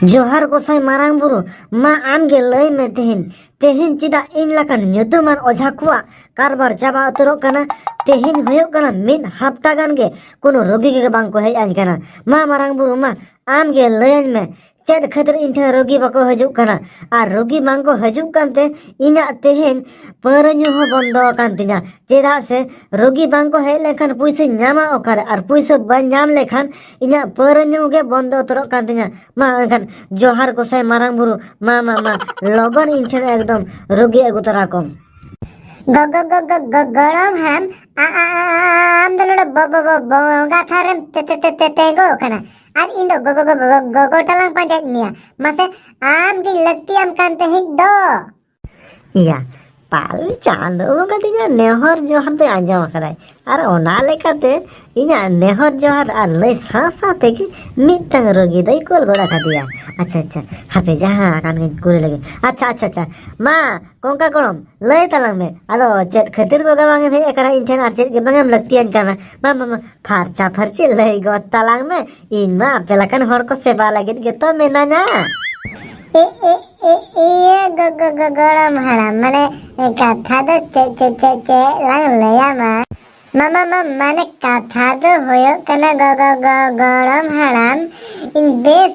ᱡᱚᱦᱟᱨ ᱜᱚᱥᱟᱭ ᱢᱟᱨᱟᱝ ᱵᱩᱨᱩ ᱢᱟ ᱟᱢᱜᱮ ᱞᱟᱹᱭ ᱢᱮ ᱛᱮᱦᱮᱧ ᱛᱮᱦᱮᱧ ᱪᱮᱫᱟᱜ ᱤᱧ ᱞᱮᱠᱟᱱ ᱧᱩᱛᱩᱢᱟᱱ ᱚᱡᱷᱟ ᱠᱚᱣᱟᱜ ᱠᱟᱨᱵᱟᱨ ᱪᱟᱵᱟ ᱩᱛᱟᱹᱨᱚᱜ ᱠᱟᱱᱟ ᱛᱮᱦᱮᱧ ᱦᱩᱭᱩᱜ ᱠᱟᱱᱟ ᱢᱤᱫ ᱦᱟᱯᱛᱟ ᱜᱟᱱ ᱜᱮ ᱠᱳᱱᱳ ᱨᱳᱜᱤ ᱜᱮ ᱵᱟᱝ ᱠᱚ ᱦᱮᱡ ᱟᱹᱧ ᱠᱟᱱᱟ ᱢᱟ ᱢᱟᱨᱟᱝ ᱵᱩᱨᱩ ᱢᱟ ᱟᱢᱜᱮ ᱞᱟᱹᱭᱟᱹᱧ ᱢᱮ ᱪᱮᱫ ᱠᱷᱟᱹᱛᱤᱨ ᱤᱧ ᱴᱷᱮᱱ ᱨᱳᱜᱤ ᱵᱟᱠᱚ ᱦᱤᱡᱩᱜ ᱠᱟᱱᱟ ᱟᱨ ᱨᱳᱜᱤ ᱵᱟᱝᱠᱚ ᱦᱤᱡᱩᱜ ᱠᱟᱱᱛᱮ ᱤᱧᱟᱹᱜ ᱛᱮᱦᱮᱧ ᱯᱟᱹᱣᱨᱟᱹ ᱧᱩ ᱦᱚᱸ ᱵᱚᱱᱫᱚ ᱟᱠᱟᱱ ᱛᱤᱧᱟ ᱪᱮᱫᱟᱜ ᱥᱮ ᱨᱳᱜᱤ ᱵᱟᱝᱠᱚ ᱦᱮᱡ ᱞᱮᱱᱠᱷᱟᱱ ᱯᱩᱭᱥᱟᱹᱧ ᱧᱟᱢᱟ ᱚᱠᱟᱨᱮ ᱟᱨ ᱯᱩᱭᱥᱟᱹ ᱵᱟᱹᱧ ᱧᱟᱢ ᱞᱮᱠᱷᱟᱱ ᱤᱧᱟᱹᱜ ᱯᱟᱹᱣᱨᱟᱹ ᱧᱩ ᱜᱮ ᱵᱚᱱᱫᱚ ᱩᱛᱟᱹᱨᱚᱜ ᱠᱟᱱ ᱛᱤᱧᱟ ᱢᱟ ᱮᱱᱠᱷᱟᱱ ᱡᱚᱦᱟᱨ ᱜᱚᱥᱟᱭ ᱢᱟᱨᱟᱝ ᱵᱩᱨᱩ ᱢᱟ ᱢᱟ ᱢᱟ ᱞᱚᱜᱚᱱ ᱤᱧ ᱴᱷᱮᱱ ᱮᱠᱫᱚᱢ ᱨᱳᱜᱤ ᱟᱹᱜᱩ ᱛᱚᱨᱟ ᱠᱚᱢ ᱜᱚᱲᱚᱢ ᱦᱟᱲᱟᱢ ᱟᱢ ᱫᱚ ᱱᱚᱰᱮ ᱵᱚᱸᱜᱟ ᱛᱷᱟᱱ ᱨᱮᱢ ᱛᱮᱸᱜᱚ ᱟᱠᱟᱱᱟ ᱟᱨ ᱤᱧ ᱫᱚ ᱜᱚᱜᱚ ᱜᱚᱜᱚ ᱜᱚᱜᱚ ᱴᱟᱞᱟᱝ ᱯᱟᱸᱡᱟᱭᱮᱫ ᱢᱮᱭᱟ ᱢᱟᱥᱮ ᱟᱢ ᱜᱤᱧ ᱞᱟᱹᱠᱛᱤᱭᱟᱢ ᱠᱟᱱ ᱛᱟᱦᱮᱸᱫ ᱫᱚ ᱤᱭᱟ ᱯᱟᱞ ᱪᱟᱸᱫᱚ ᱵᱚᱸᱜᱟ ᱫᱚ ᱤᱧᱟᱹᱜ ᱱᱮᱦᱚᱨ ᱡᱚᱦᱟᱨ ᱫᱚᱭ ᱟᱸᱡᱚᱢ ᱟᱠᱟᱫᱟᱭ ᱟᱨ ᱚᱱᱟ ᱞᱮᱠᱟᱛᱮ ᱤᱧᱟᱹᱜ ᱱᱮᱦᱚᱨ ᱡᱚᱦᱟᱨ ᱟᱨ ᱞᱟᱹᱭ ᱥᱟᱶ ᱥᱟᱶ ᱛᱮᱜᱮ ᱢᱤᱫᱴᱟᱝ ᱨᱳᱜᱤ ᱫᱚᱭ ᱠᱳᱞ ᱜᱚᱫ ᱟᱠᱟᱫᱮᱭᱟ ᱟᱪᱪᱷᱟ ᱟᱪᱪᱷᱟ ᱦᱟᱯᱮ ᱡᱟᱦᱟᱸ ᱟᱠᱟᱱ ᱜᱤᱧ ᱠᱩᱞ ᱞᱮᱜᱮ ᱟᱪᱪᱷᱟ ᱟᱪᱪᱷᱟ ᱟᱪᱪᱷᱟ ᱢᱟ ᱠᱚᱝᱠᱟ ᱜᱚᱲᱚᱢ ᱞᱟᱹᱭ ᱛᱟᱞᱟᱝ ᱢᱮ ᱟᱫᱚ ᱪᱮᱫ ᱠᱷᱟᱹᱛᱤᱨ ᱵᱚᱜᱟ ᱵᱟᱝ ᱮᱢ ᱦᱮᱡ ᱟᱠᱟᱱᱟ ᱤᱧ ᱴᱷᱮᱱ ᱟᱨ ᱪᱮᱫ ᱜᱮ ᱵᱟᱝ ᱮᱢ ᱞᱟᱹᱠᱛᱤᱭᱟᱹᱧ ᱠᱟᱱᱟ ᱵᱟᱝ ᱵᱟᱝ ᱵᱟᱝ ᱯᱷᱟᱨᱪᱟ ᱯᱷᱟᱨᱪᱤ ᱞᱟᱹᱭ ᱜᱚᱫ ᱛᱟᱞᱟᱝ ᱢᱮ ᱤᱧ ᱢᱟ ᱟᱯᱮ ᱞᱮᱠᱟᱱ ᱦᱚᱲ ᱠᱚ ᱥᱮᱵᱟ ᱞᱟᱹᱜᱤᱫ ᱜᱮᱛᱚ ᱢᱮᱱᱟᱧᱟ ᱮ ᱮ ᱮ ᱤᱭᱟᱹ ᱜᱚ ᱜᱚ ᱜᱚ ᱜᱚᱲᱚᱢ ᱦᱟᱲᱟᱢ ᱢᱟᱱᱮ ᱠᱟᱛᱷᱟ ᱫᱚ ᱪᱮᱫ ᱪᱮᱫ ᱪᱮᱫ ᱪᱮᱫ ᱞᱟᱝ ᱞᱟᱹᱭᱟᱢᱟ ᱢᱟᱢᱟ ᱢᱟ ᱢᱟᱱᱮ ᱠᱟᱛᱷᱟ ᱫᱚ ᱦᱩᱭᱩᱜ ᱠᱟᱱᱟ ᱜᱚ ᱜᱚ ᱜᱚ ᱜᱚᱲᱚᱢ ᱦᱟᱲᱟᱢ ᱤᱧ ᱵᱮᱥ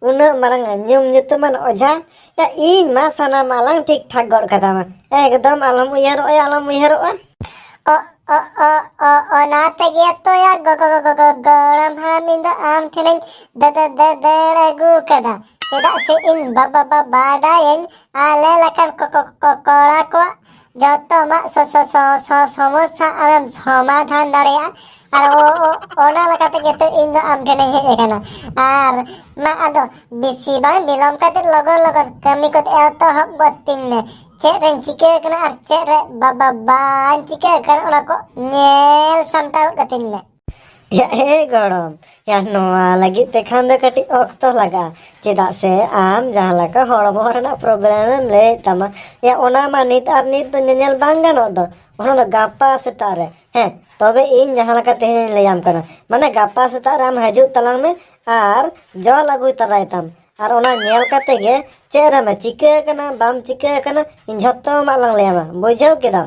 ᱩᱱᱟᱹᱜ ᱢᱟᱨᱟᱝ ᱧᱩᱢ ᱧᱩᱛᱩᱢᱟᱱ ᱚᱡᱷᱟ ᱭᱟ ᱤᱧ ᱢᱟ ᱥᱟᱱᱟᱢ ᱟᱞᱟᱝ ᱴᱷᱤᱠ ᱴᱷᱟᱠ ᱜᱚᱫ ᱠᱟᱫᱟᱢᱟ ᱮᱠᱫᱚᱢ ᱟᱞᱚᱢ ᱩᱭᱦᱟᱹᱨᱚᱜᱼᱟ ᱟᱞᱚᱢ ᱩᱭᱦᱟᱹᱨᱚᱜᱼᱟ ᱚ ᱚ ᱚ ᱚ ᱚᱱᱟ ᱛᱮᱜᱮ ᱛᱚ ᱭᱟ ᱜᱚᱜᱚ ᱜᱚᱜᱚ ᱜᱚ ᱜᱚᱲᱚᱢ ᱦᱟᱲᱟᱢ ᱤᱧ ᱫᱚ ᱟᱢ ᱴᱷᱮᱱᱤᱧ ᱫᱟ ᱫᱟ ᱫᱟ ᱫᱟᱹᱲ ᱟᱹᱜᱩ ᱠᱟᱫᱟ ᱪᱮᱫᱟᱜ ᱥᱮ ᱤᱧ ᱵᱟᱵᱟ ᱵᱟ ᱵᱟᱰᱟᱭᱟᱹᱧ ᱟᱞᱮ ᱞᱮᱠᱟᱱ ᱠᱚ ᱠᱚ ᱠᱚ ᱠᱚᱲᱟ ᱠᱚᱣᱟᱜ ᱡᱚᱛᱚ ᱟᱢᱟᱜ ᱥᱚᱢᱚᱥᱥᱟ ᱟᱢᱮᱢ ᱥᱚᱢᱟᱫᱷᱟᱱ ᱫᱟᱲᱮᱭᱟᱜᱼᱟ ᱟᱨ ᱚᱱᱟ ᱞᱮᱠᱟ ᱛᱮᱜᱮ ᱛᱚ ᱤᱧ ᱫᱚ ᱟᱢ ᱴᱷᱮᱱᱤᱧ ᱦᱮᱡ ᱟᱠᱟᱱᱟ ᱟᱨ ᱢᱟ ᱟᱫᱚ ᱵᱮᱥᱤ ᱵᱟᱝ ᱵᱤᱞᱚᱢ ᱠᱟᱛᱮ ᱞᱚᱜᱚᱱ ᱞᱚᱜᱚᱱ ᱠᱟᱹᱢᱤ ᱠᱚ ᱮᱛᱚᱦᱚᱵ ᱜᱚᱫ ᱛᱤᱧ ᱢᱮ ᱪᱮᱫ ᱨᱮᱧ ᱪᱤᱠᱟᱹ ᱟᱠᱟᱱᱟ ᱟᱨ ᱪᱮᱫ ᱨᱮ ᱵᱟᱵᱟ ᱵᱟᱹᱧ ᱪᱤᱠᱟᱹ ᱟᱠᱟᱱᱟ ᱚᱱᱟ ᱠᱚ ᱧᱮᱞ ᱥᱟᱢᱴᱟᱣ ᱜᱚᱫ ᱠᱟᱹᱛᱤᱧ ᱢᱮ ᱭᱟ ᱮ ᱜᱚᱲᱚᱢ ᱭᱟ ᱱᱚᱣᱟ ᱞᱟᱹᱜᱤᱫ ᱛᱮᱠᱷᱟᱱ ᱫᱚ ᱠᱟᱹᱴᱤᱡ ᱚᱠᱛᱚ ᱞᱟᱜᱟᱜᱼᱟ ᱪᱮᱫᱟᱜ ᱥᱮ ᱟᱢ ᱡᱟᱦᱟᱸ ᱞᱮᱠᱟ ᱦᱚᱲᱢᱚ ᱨᱮᱱᱟᱜ ᱯᱨᱚᱵᱞᱮᱢ ᱮᱢ ᱞᱟᱹᱭᱮᱫ ᱛᱟᱢᱟ ᱭᱟ ᱚᱱᱟ ᱢᱟ ᱱᱤᱛ ᱟᱨ ᱱᱤᱛ ᱫᱚ ᱧᱮᱧᱮᱞ ᱵᱟᱝ ᱜᱟᱱᱚᱜ ᱫᱚ ᱚᱱᱟ ᱫᱚ ᱜᱟᱯᱟ ᱥᱮᱛᱟᱜ ᱨᱮ ᱦᱮᱸ ᱛᱚᱵᱮ ᱤᱧ ᱡᱟᱦᱟᱸ ᱞᱮᱠᱟ ᱛᱮᱦᱮᱧ ᱞᱟᱹᱭᱟᱢ ᱠᱟᱱᱟ ᱢᱟᱱᱮ ᱜᱟᱯᱟ ᱥᱮᱛᱟᱜ ᱨᱮ ᱟᱢ ᱦᱤᱡᱩᱜ ᱛᱟᱞᱟᱝ ᱢᱮ ᱟᱨ ᱡᱚᱞ ᱟᱹᱜᱩᱭ ᱛᱟᱨᱟᱭ ᱛᱟᱢ ᱟᱨ ᱚᱱᱟ ᱧᱮᱞ ᱠᱟᱛᱮ ᱜᱮ ᱪᱮᱫ ᱨᱮᱢ ᱪᱤᱠᱟᱹ ᱟᱠᱟᱱᱟ ᱵᱟᱢ ᱪᱤᱠᱟᱹ ᱟᱠᱟᱱᱟ ᱤᱧ ᱡᱷᱚᱛᱚ ᱟᱢᱟᱜ ᱞᱟᱝ ᱞᱟᱹᱭᱟᱢᱟ ᱵᱩᱡᱷᱟᱹᱣ ᱠᱮᱫᱟᱢ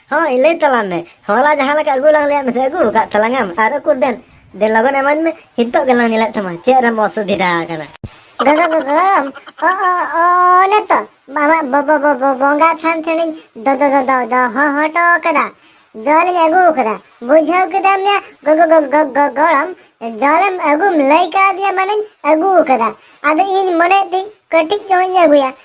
ᱦᱳᱭ ᱞᱟᱹᱭ ᱛᱟᱞᱟᱝ ᱢᱮ ᱦᱚᱞᱟ ᱡᱟᱦᱟᱸ ᱞᱮᱠᱟ ᱟᱹᱜᱩ ᱞᱟᱝ ᱞᱟᱹᱭᱟᱫ ᱢᱮ ᱟᱹᱜᱩ ᱟᱠᱟᱫ ᱛᱟᱞᱟᱝᱟᱢ ᱟᱨ ᱩᱠᱩᱨ ᱫᱮᱱ ᱫᱮᱱ ᱞᱚᱜᱚᱱ ᱮᱢᱟᱹᱧ ᱢᱮ ᱱᱤᱛᱚᱜ ᱜᱮᱞᱟᱝ ᱧᱮᱞᱮᱫ ᱛᱟᱢᱟ ᱪᱮᱫ ᱨᱮᱢ ᱚᱥᱩᱵᱤᱫᱷᱟ ᱟᱠᱟᱱᱟ ᱜᱚᱜᱚ ᱜᱚᱜᱚ ᱚ ᱚ ᱚ ᱚᱱᱮ ᱛᱚ ᱵᱟᱵᱟ ᱵᱚᱵᱚ ᱵᱚᱵᱚ ᱵᱚᱸᱜᱟ ᱛᱷᱟᱱ ᱴᱷᱮᱱᱤᱧ ᱫᱚ ᱫᱚ ᱫᱚ ᱫᱚ ᱫᱚ ᱦᱚ ᱦᱚᱴᱚ ᱠᱟᱫᱟ ᱡᱚᱞᱤᱧ ᱟᱹᱜᱩ ᱟᱠᱟᱫᱟ ᱵᱩᱡᱷᱟᱹᱣ ᱠᱮᱫᱟᱢ ᱭᱟ ᱜᱚᱜᱚ ᱜᱚᱜᱚ ᱜᱚᱜᱚ ᱜᱚᱲᱚᱢ ᱡᱚᱞᱮᱢ ᱟᱹᱜᱩᱢ ᱞᱟᱹᱭ ᱠᱟᱣᱫᱤᱧᱟ ᱢᱟᱱᱮᱧ ᱟᱹᱜᱩ ᱟᱠᱟᱫᱟ ᱟᱫᱚ ᱤᱧ ᱢᱚᱱᱮᱭᱮᱫ ᱛᱤᱧ ᱠᱟᱹᱴᱤᱡ ᱧᱚᱜ ᱤᱧ ᱟᱹᱜᱩᱭᱟ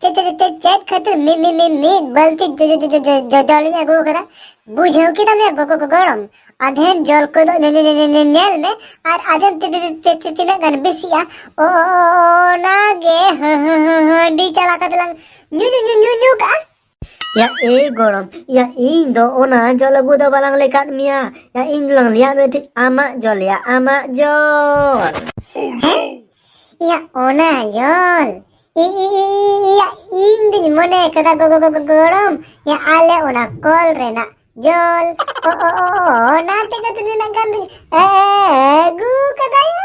ᱪᱮᱫ ᱪᱮᱫ ᱪᱮᱫ ᱪᱮᱫ ᱠᱷᱟᱹᱛᱤᱨ ᱢᱤ ᱢᱤ ᱢᱤ ᱢᱤ ᱵᱟᱹᱞᱛᱤ ᱡᱚᱞᱤᱧ ᱟᱹᱜᱩ ᱟᱠᱟᱫᱟ ᱵᱩᱡᱷᱟᱹᱣ ᱠᱮᱫᱟᱢ ᱭᱟ ᱜᱚᱜᱚ ᱜᱚᱲᱚᱢ ᱟᱫᱷᱮᱱ ᱡᱚᱞ ᱠᱚᱫᱚ ᱧᱮᱞ ᱢᱮ ᱟᱨ ᱟᱫᱷᱮᱱ ᱛᱤᱱᱟᱹᱜ ᱜᱟᱱ ᱵᱮᱥᱤᱜᱼᱟ ᱚᱱᱟᱜᱮ ᱦᱟᱺᱰᱤ ᱪᱟᱞᱟ ᱠᱟᱛᱮ ᱞᱟᱝ ᱧᱩ ᱧᱩ ᱧᱩ ᱧᱩ ᱧᱩ ᱠᱟᱜᱼᱟ ᱭᱟ ᱮ ᱜᱚᱲᱚᱢ ᱭᱟ ᱤᱧ ᱫᱚ ᱚᱱᱟ ᱡᱚᱞ ᱟᱹᱜᱩ ᱫᱚ ᱵᱟᱞᱟᱝ ᱞᱮᱠᱟᱫ ᱢᱮᱭᱟ ᱭᱟ ᱤᱧ ᱫᱚᱞᱟᱝ ᱞᱮᱭᱟᱫ ᱢᱮ ᱛᱟᱦᱮᱸᱫ ᱟᱢᱟᱜ ᱡᱚᱞ ᱭᱟ ᱟᱢᱟᱜ ᱡᱚᱞ ᱦᱮᱸ ᱭᱟ ᱚᱱᱟ ᱡᱚᱞ ᱤᱭᱟ ᱤᱧ ᱫᱩᱧ ᱢᱚᱱᱮ ᱠᱟᱫᱟ ᱜᱚᱜᱚ ᱜᱚᱜᱚ ᱜᱚᱲᱚᱢ ᱭᱟ ᱟᱞᱮ ᱚᱱᱟ ᱠᱚᱞ ᱨᱮᱱᱟᱜ ᱡᱚᱞ ᱚ ᱚ ᱚ ᱚᱱᱟ ᱛᱮᱜᱮ ᱛᱚ ᱱᱤᱱᱟᱹᱜ ᱜᱟᱱ ᱫᱩᱧ ᱟᱹᱜᱩ ᱠᱟᱫᱟᱭᱟ